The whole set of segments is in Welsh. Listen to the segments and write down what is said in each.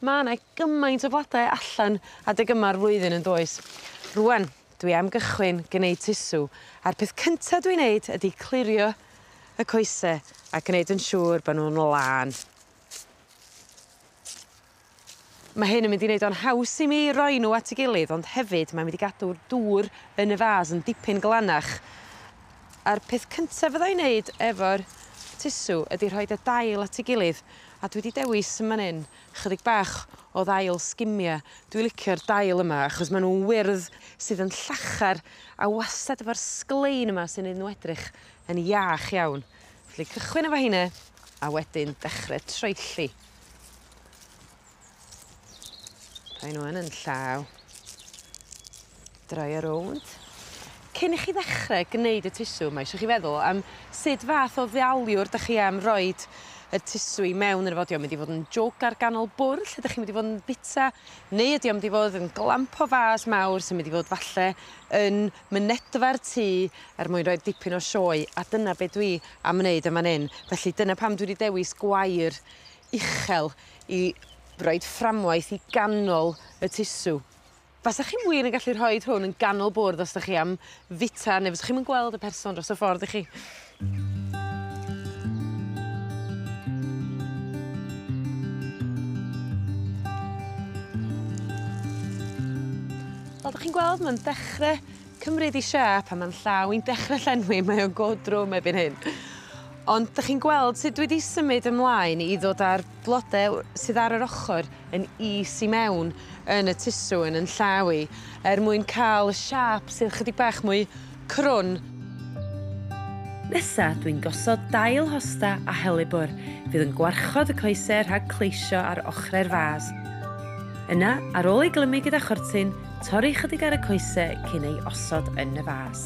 Ma' 'ne gymaint o flodau allan adeg yma'r flwyddyn yndoes? Rŵan dwi am gychwyn gneud tusw a'r peth cynta dwi'n neud ydi clirio y coese a gneud yn siŵr bo' nw'n lân. Ma' hyn yn mynd i neud o'n haws i mi roi n'w at 'i gilydd ond hefyd mae'n mynd i gadw'r dŵr yn y fas yn dipyn glanach a'r peth cynta fydda i'n neud efo'r tusw ydi rhoid y dail at 'i gilydd A dwi 'di dewis yn man 'yn chydig bach o ddail Skimmia. Dwi licio'r dail yma achos ma' nw'n wyrdd sydd yn llachar a wastad efo'r sglein yma sy'n neud n'w edrych yn iach iawn. Felly cychwyn efo heine a wedyn dechre troelli. Rhaid nhw yn yn llaw. Draio rownd. Cyn i chi ddechrau gwneud y tusw, mae eisiau chi feddwl am sut fath o ddealiwr dych chi am roed y tusw i mewn yn y fo. Ydy o'n mynd i fod yn jwg ar ganol bwrdd lle dych chi'n mynd i fod yn bita, neu ydy o'n mynd i fod yn glamp o fas mawr sy'n mynd i fod falle yn mynedfa'r tŷ er mwyn rhoi dipyn o sioe, a dyna be dwi am wneud yn fan hyn. Felly dyna pam dwi wedi dewis gwair uchel i roid fframwaith i ganol y tusw. Fasach chi wir yn gallu rhoid hwn yn ganol bwrdd os 'dach chi am fita ne' fysach chi'm yn gweld y person dros y ffordd y'chi? Fel 'dach chi'n gweld ma'n dechre cymryd 'i siâp a ma'n llaw 'i'n dechre llenwi mae o'n go drwm erbyn hyn ond 'dych chi'n gweld sut dwi 'di symud ymlaen i ddod â'r blode w- sydd ar yr ochor yn is i mewn yn y tusw yn 'yn llaw i er mwyn ca'l y siâp sydd chydig bach mwy crwn. Nesa dwi'n gosod dail hosta a helibwr fydd yn gwarchod y coese rhag cleisio ar ochre'r fas. Yna ar ôl ei glymu gyda chortyn Torri chydig ar y coese cyn ei osod yn y fas.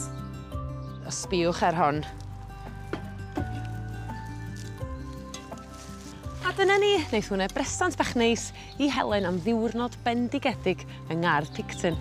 A sbiwch ar hon. A dyna ni, neith hwnne bresant bach neis i Helen am ddiwrnod bendigedig yng ngardd Picton.